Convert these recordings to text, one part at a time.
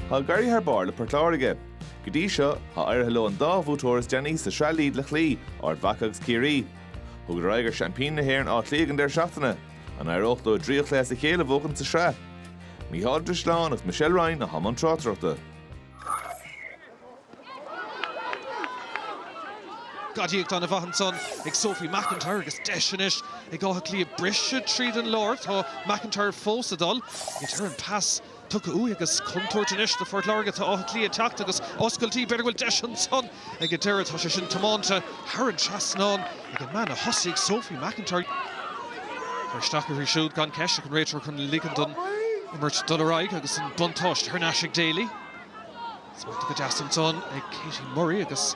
Tá ag éirí thar barr le Port Láirge. Go dtí seo, tá éirithe leo an dá bhuaiteoir is déanaí sa tSraith Lidl a chloí, Ard Mhaca agus Ciarraí. Thugadar aghaidh ar seaimpíní na hÉireann Áth Cliath ag an deireadh seachtaine. An éireodh leo trí chluiche as a chéile a bhuachan sa tsraith? Mícheál Ó Drisleáin agus Michelle Ryan atá i mbun tráchtaireachta. Gadaíocht ana mhaith ansan ag Sophie McIntyre agus deis anois ag Áth Cliath briseadh tríd an lár. Tá McIntyre fós ag dul. Ag an deireadh an pas tugtha uaithi agus contúirt anois do Phort Láirge. Tá Áth Cliath ag teacht agus oscailtí. B'fhéidir go bhfuil deis ansan ag an deireadh. Tá sé sin tiomáinte thar an trasnán ag an mbean a thosaigh, Sophie McIntyre. Tá isteach uirthi siúd gan ceist ach an réiteoir chun ligean don imirt dul ar aghaidh agus an buntáiste thar n-ais ag Daly. Smachtaithe go deas ansan ag Katie Murray agus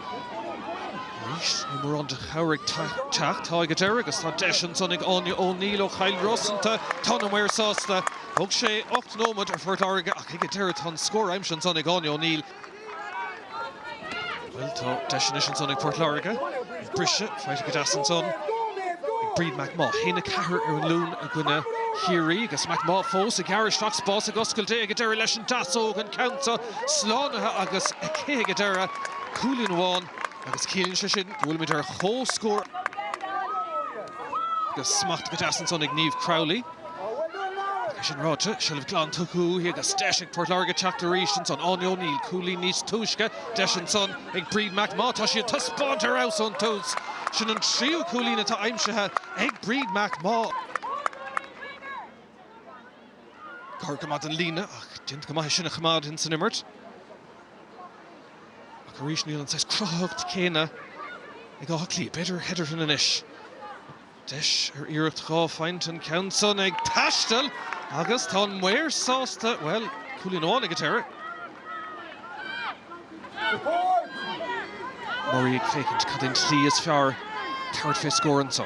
arís níl mórán de chabhair ag teacht. Tá ag an deireadh agus tá deis ansan ag Áine O Neill ó Chill Rosanta. Tá na maoir sásta. Thóg sé ocht nóiméad ar Phort Láirge ach ag an deireadh tá an scór aimsithe ansan ag Áine O Neill. Bhuel, tá deis anois ansan ag Port Láirge. Ag briseadh, faighte go deas ansan ag Bríd McMaugh. A haon a ceathair ar an Luan i gcoinne Chiarraí agus McMaugh fós ag gearradh isteach, spás ag oscailt ag an deireadh leis an deasóg, an ceann seo slánaithe agus aici ag an deireadh. Cúilín amháin agus ciallaíonn sé sin go bhfuilimid ar comhscór. Agus smachtaithe go deas ansan ag Niamh Crowley. É sin ráite, seilbh glan tugtha uaithi agus deis ag Port Láirge teacht arís ansan. Áine O Neill, cúilín níos túisce, deis ansan ag Bríd McMaugh, tá sí ag taispeáint ar fheabhas ón tús. Sin an tríú cúilín atá aimsithe ag Bríd McMaugh. Gar go maith don líne ach déanta go maith é sin a choimeád insan imirt. Ach arís níl an saghas cruthaitheacht chéanna ag Áth Cliath. B'fhéidir Hetherton anois. Deis ar iarracht dhá phointe an ceann san ag taisteal agus tá an maor sásta, bhuel, cúilín amháin ag an deireadh. Murray ag féachaint cad é an tslí is fearr tabhairt fé scór anso.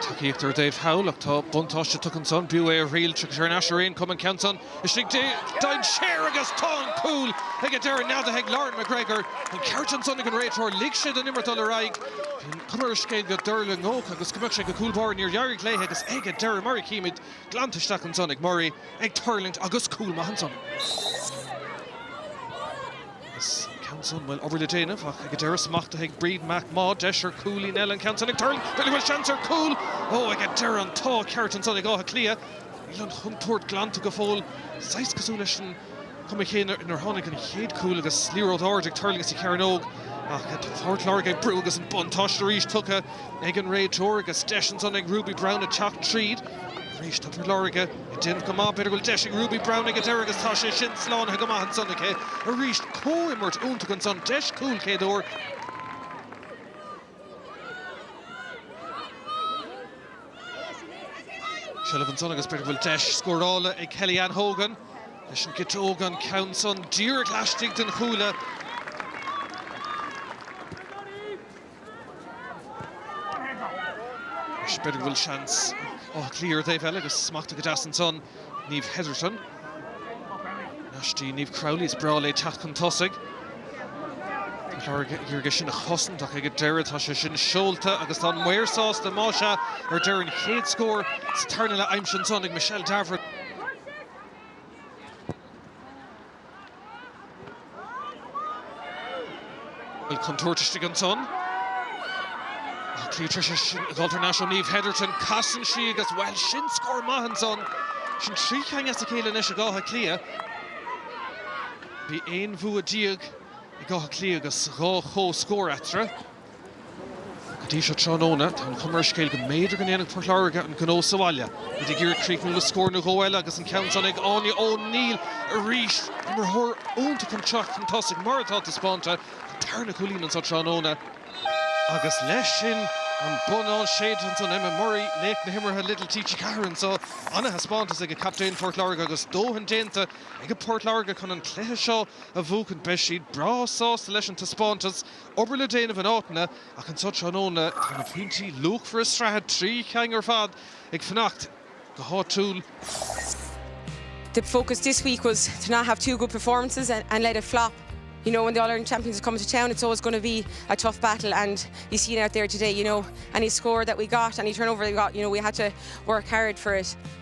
Tacaíocht ar an taobh thall ach tá buntáiste tugtha ansan, b'fhiú é a thriail, tiocfaidh sé thar n-ais ar aon chuma, an ceann san, Istigh de dhainséar agus tá an cúl ag an deireadh neadaithe ag Lauren McGregor. An ceart ansan ag an réiteoir, lig sé don imirt dul ar aghaidh. Bhí an chuma ar an scéal go dtuirlingeodh agus go mbeadh sé ag an gcúl báire, níor éirigh léi agus ag an deireadh, mar a chímid, glanta isteach ansan ag Murray, ag tuirlingt agus cúl maith ansan. Agus an ceann san, bhuel, obair le déanamh ach ag an deireadh, smachtaithe ag Bríd McMaugh, deis ar cúilín eile, an ceann san ag tuirlingt, b'fhéidir go bhfuil seans ar cúl, ó, ag an deireadh, an t-ádh ceart ansan ag Áth Cliath. Níl an chontúirt glanta go fóill, saghas cosúil leis an chuma chéanna inar tháinig an chéad chúl agus liathróid ard ag tuirlingt sa chearnóg, ach tá Port Láirge ag brú agus an buntáiste arís tugtha ag an réiteoir agus deis ansan ag Ruby Brown a teacht tríd. Arís tá Port Láirge ag déanamh go maith, b'fhéidir go bhfuil deis ag Ruby Brown ag an deireadh agus tá sé sin slánaithe go maith ansan aici. Arís comhimirt iontach ansan, deis cúl chéad uair. Seilbh ansan agus b'fhéidir go bhfuil deis scórála ag Kellyann Hogan leis an gciotóg, an ceann san díreach laistigh den chuaille. B'fhéidir go bhfuil seans ag Áth Cliath ar an dtaobh eile agus smachtaithe go deas ansan. Niamh Hetherton, thar n-ais dtí Niamh Crowley, is breá léi teacht chun tosaigh. Ag iarraidh é sin a chosaint ach ag an deireadh tá sé sin seolta agus tá an maor sásta, más ea, ar deireadh an chéad scór sa tarna leath aimsithe ansan ag Michelle Davoren. Bhfuil contúirt istigh ansan. Áth Cliath tar éis dhul thar n-ais go Niamh Hetherton. Casann sí agus bhuel, sin scór maith ansan. Sin trí cheann as a chéile anois ag Áth Cliath. Bhí 11 bhua ag Áth Cliath agus dhá chomhscór eatarthu. Go dtí seo tráthnóna, tá an chuma ar an scéal go mb'fhéidir go ndéanfaidh Port Láirge an gnó sa bhaile. Iad ag iarraidh críochnú le scór nó dhó eile agus an ceann sin ag Áine O'Neill arís. Imreoir iontach chun teacht chun tosaigh, mar atá taispeánta an tarna cúilín anseo tráthnóna, agus leis sin an bonnán séidte ansan. Emma Murray, laoch na himeartha Lidl TG4 anseo. Ana-thaispeántas ag a captaen, Port Láirge, agus dóthain déanta ag Port Láirge chun an cluiche seo a bhuachan. Beidh siad breá sásta leis an taispeántas. obair le déanamh in áiteanna ach anseo tráthnóna tá na pointí luachmhara sraithe trí cheann ar fad ag fanacht go háitiúil. the focus this week was to not have two good performances and, and let it flop. You know, when the All Ireland champions come to town, it's always going to be a tough battle, and you see it out there today. You know, any score that we got, any turnover we got, you know, we had to work hard for it.